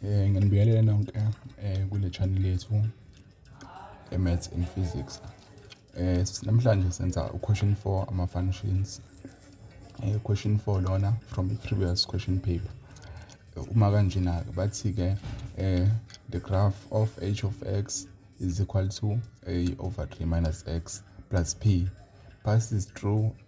Eh nginibiyelele nonke eh kule channel yethu eMaths and Physics. Eh namhlanje senza uquestion 4 ama functions. Eh question 4 lona from the previous question paper. Uma kanjena ke bathi ke eh the graph of h of x is equal to a over 3 minus x plus p passes through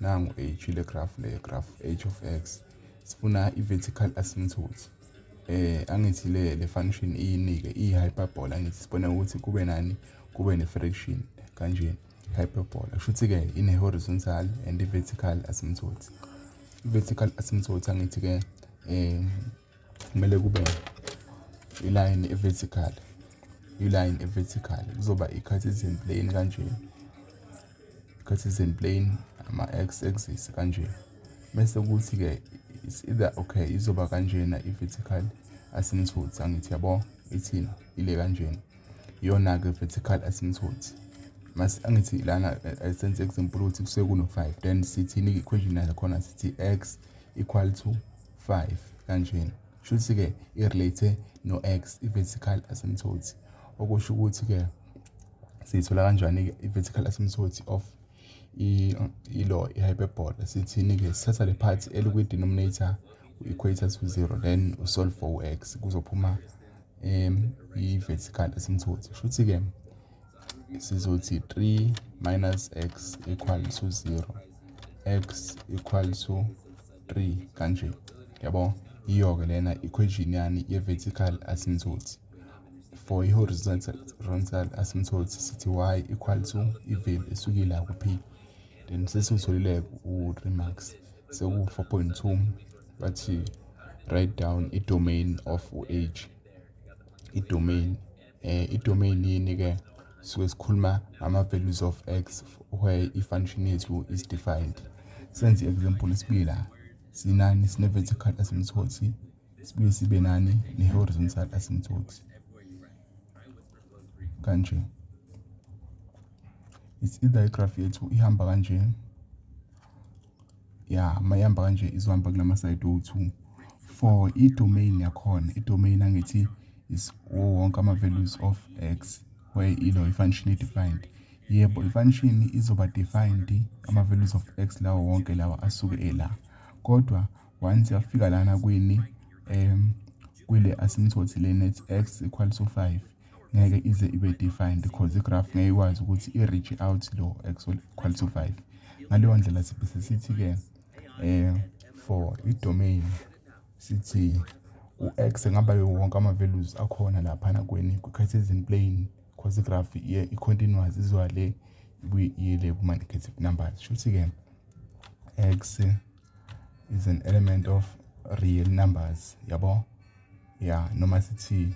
nangu h le graph le graph h of x sifuna i-vertical asymptote eh angithi le le function iyinike i-hyperbola angithi sibona ukuthi kube nani kube ne-fraction kanjena hyperbola kusho ukuthi-ke ine-horizontal and i-vertical asymptote i-vertical asymptote angithi-ke um kumele kube ilayini e-vertical ilayini e-vertical kuzoba i-cartesian plane kanje i-cartesian plane ama-x axis kanje bese kuthi-ke is either okay izoba kanjena i-vertical asymptote angithi yabo ithini ile kanjena iyona-ke vertical asymptote mas angithi lana eh, sense example ukuthi kusuke kuno-five then sithini i-equation yakhona sithi x equal to 5 kanjena shuthi ke irelate no x i-vertical asymptote okusho ukuthi ke siyithola kanjani ke i-vertical asymptote of ilo i-hyperbola sithini ke sithatha le part elikwi-denominator u-equator to 0 then usolve for u-x kuzophuma um i-vertical asymptote shuthi ke sizothi 3 minus x equal to 0 x equal to 3 kanje yabo iyoke lena equation yani ye-vertical asymptote for i-horizontal asymptote sithi y equal to i-value esukile ku-p then sesiwutholile u-remax seku-4.2 bathi write down i-domain of u-h i-domain um i-domain yini-ke sisuke sikhuluma ngama-values of x where i-function yethu is defined senze i-example isibila sinani sine-vertical asimthothi sibuye sibe nani ne-horizontal asimthothi kanje it's either igraph yethu ihamba kanje ya mayihamba kanje izohamba kula masayidi owu-two for i-domain yakhona i-domain angithi is wonke ama-values of x where ilo i-function i-defined yebo i-function izoba defined ama-values of x lawo wonke lawa asuke ela kodwa once yafika lana kwini um kwile asimthothi lena it's x equal to 5 ngeke ize ibe defined because igraph ngeke ikwazi ukuthi i-reach out lo actual equal to 5 ngaleyo ndlela sibe sesithi-ke um for i-domain sithi u-x ngaba wonke ama-values akhona laphana kweni kwi-cartesian plane because igraph i-continuous izoya le ibuye le kuma-negative numbers shuthi-ke x is an element of real numbers yabo ya noma sithi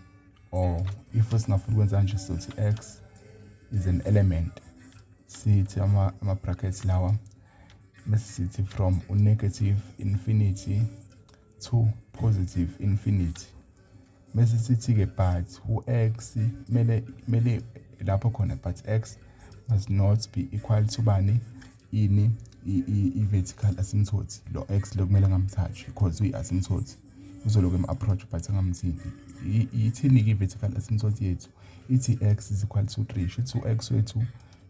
or if singafuna ukwenza kanje sothi x is an element sithi ama-brackets lawa bese sithi from u-negative infinity to positive infinity bese sithi-ke but u-x kumele kumele lapho khona but x must not be equal to bani ini i-vertical asymptote lo x lo kumele ngamthathi because uyi-asymptote uzoloku em-approach but angamthi yithini-ke i-vertical asymptot yethu ithi x is equal to three shuthi u-x wethu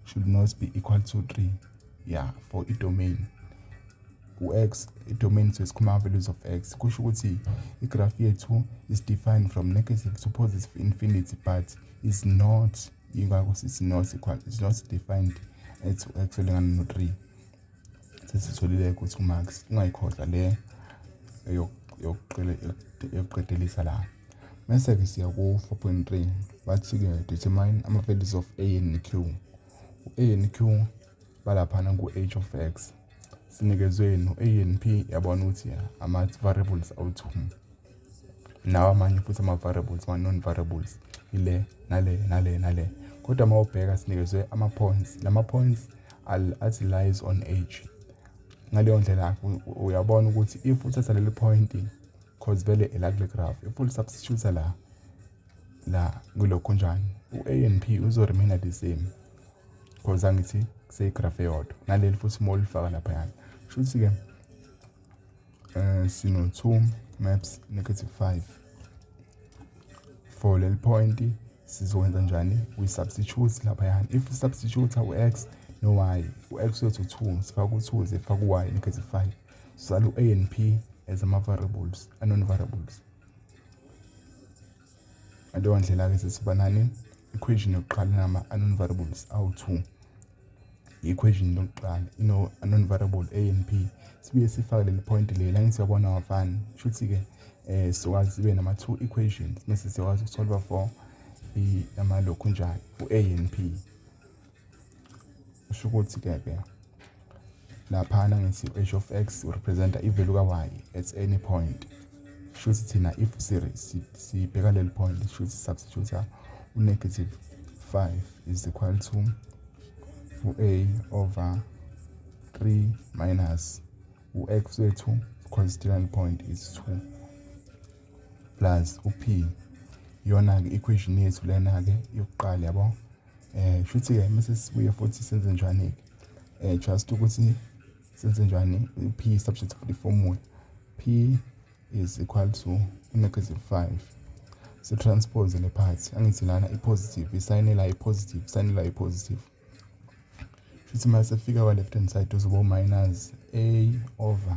should not be equal to three ya for i-domain u-x i-domain so isikhuluma values of x kusho ukuthi i-graph yethu is defined from negative to positive infinity but is not ingakho sithi not equal is not defined at u-x olingana no-three sesitholile ukuthi umax ungayikhohlwa le yokuqedelisa la mese-ke siya ku-four point three bathi-ke determine ama-values of a n q u-a n q balaphana ku-h of x sinikezwe no-a n p yabona ukuthi ama-variables awu-two nawo amanye futhi ama-variables ama-non-variables ile nale nale nale kodwa uma ubheka sinikezwe ama-points la ma-points athi lies on age ngaleyo ndlela uyabona ukuthi if uthatha leli point cause vele elakule graph if ulisubstitute la la kulokhu njani u-a and p uzoremaina the same cause angithi kuseyigraph eyodwa naleli futhi uma ulifaka laphayana shuthi-ke eh sino 2 maps negative 5 for leli point sizokwenza njani we substitute lapha yani if substitute u x no y u x wethu 2 sifaka u 2 ze faka u y negative 5 sisala u a and p as ama variables a non variables Ngaleyo ndlela-ke sesibanani equation yokuqala inama-unknown variables awu-two i-equation yokuqala ino-unknown variable a and b sibuye sifake leli point leli la ngithi uyabona wafani kusho ukuthi-ke um sizokwazi sibe nama-two equations mese siyakwazi ukusolva for amalokhu njani u-a and b kusho ukuthi ke ke laphana ngithi h of x representa ivalue ka-y at any point kusho ukuthi thina if sibheka leli point kusho ukuthi substitute u-negative 5 is equal to u-a over 3 minus u-x wethu constituent point is 2 plus u-p iyona-ke equation yethu lena-ke yokuqala yabo Eh shuthi ke mase sibuye futhi senze njani ke? Eh just ukuthi senze njani p subject for the formula. P is equal to negative 5 sitranspose le part angithi lana i-positive isayine la i-positive isayine la i-positive shuthi uma sefika kwa-left hand side uzoba u-minus a over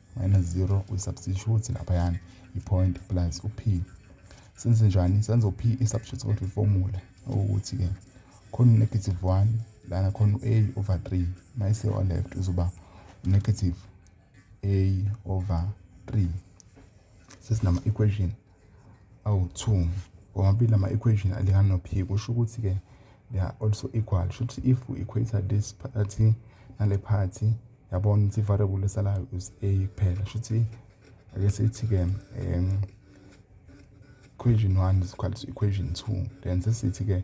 minus 0 kwi-substitute laphayana i-point plus u-p senze njani senza u-p i-substitute kodwa i-formula okuthi-ke khona u-negative 1 lana khona u-a over 3 mayise o-left uzoba u-negative a over 3 sesinama-equation awu-2 womabili ama equation alingana no p kusho ukuthi ke they are also equal sho ukuthi if we equator this party nale party yabona ukuthi variable esalayo is a kuphela sho ukuthi ake sithi ke um equation 1 is equal to equation 2 then sesithi ke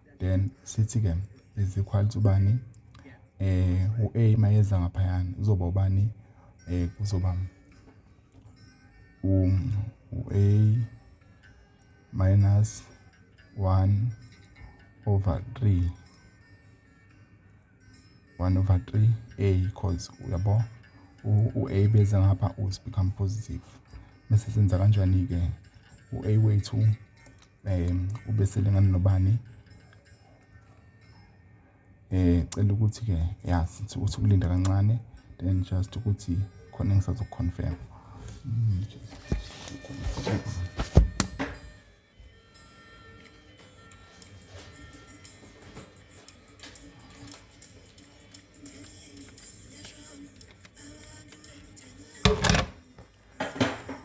then sithi-ke is equal to bani eh u-a mayeza ngaphayana uzoba ubani eh kuzoba u-a minus 1 over 3 1 over 3 a cause uyabo u-a beza ngapha us become positive bese senza kanjani-ke u-a wethu um ubesele ngani nobani eh cela ukuthi ke ya sithi uthi kulinda kancane then just ukuthi khona engisazokuconfirm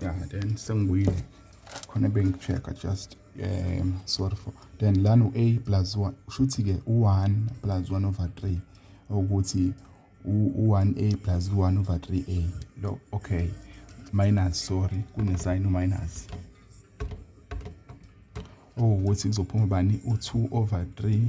yeah then sengibuyile khona bengi-check-a just um sorry for then lana u-a plus one kusho ukuthi-ke u-one plus one over three ukuthi u-one a plus u-one over three a lo okay minus sorry kunesayini uminus okuwukuthi kuzophuma bani u-two over three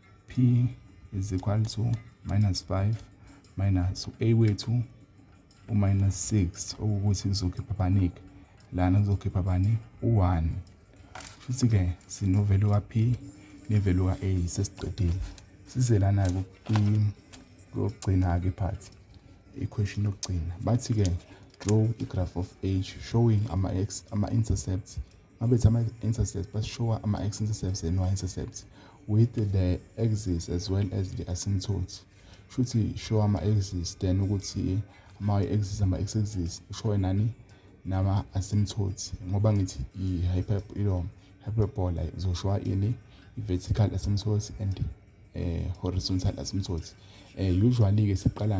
p is equal to minus 5 minus u-a wethu u-minus 6 okuwukuthi kuzokhipha banik lana kuzokhipha bani u-1 futhi-ke sinovelu ka-p nevelu ka-a sesiqedile size lana-ke kokugcina-ke phathi i-question yokugcina bathi-ke draw i-graph of h showing ama-intercepts Mabethi ama-intercepts bashowa ama-x-intercepts and y-intercepts with the axis as well as the asymptotes shuthi show ama-axis then ukuthi ama-axis ama-x-axis ushowe nani nama-asymptotes ngoba ngithi i-hyper ilo hyperbola izoshowa ini i-vertical asymptotes and eh, horizontal asymptotes eh, usually-ke siqala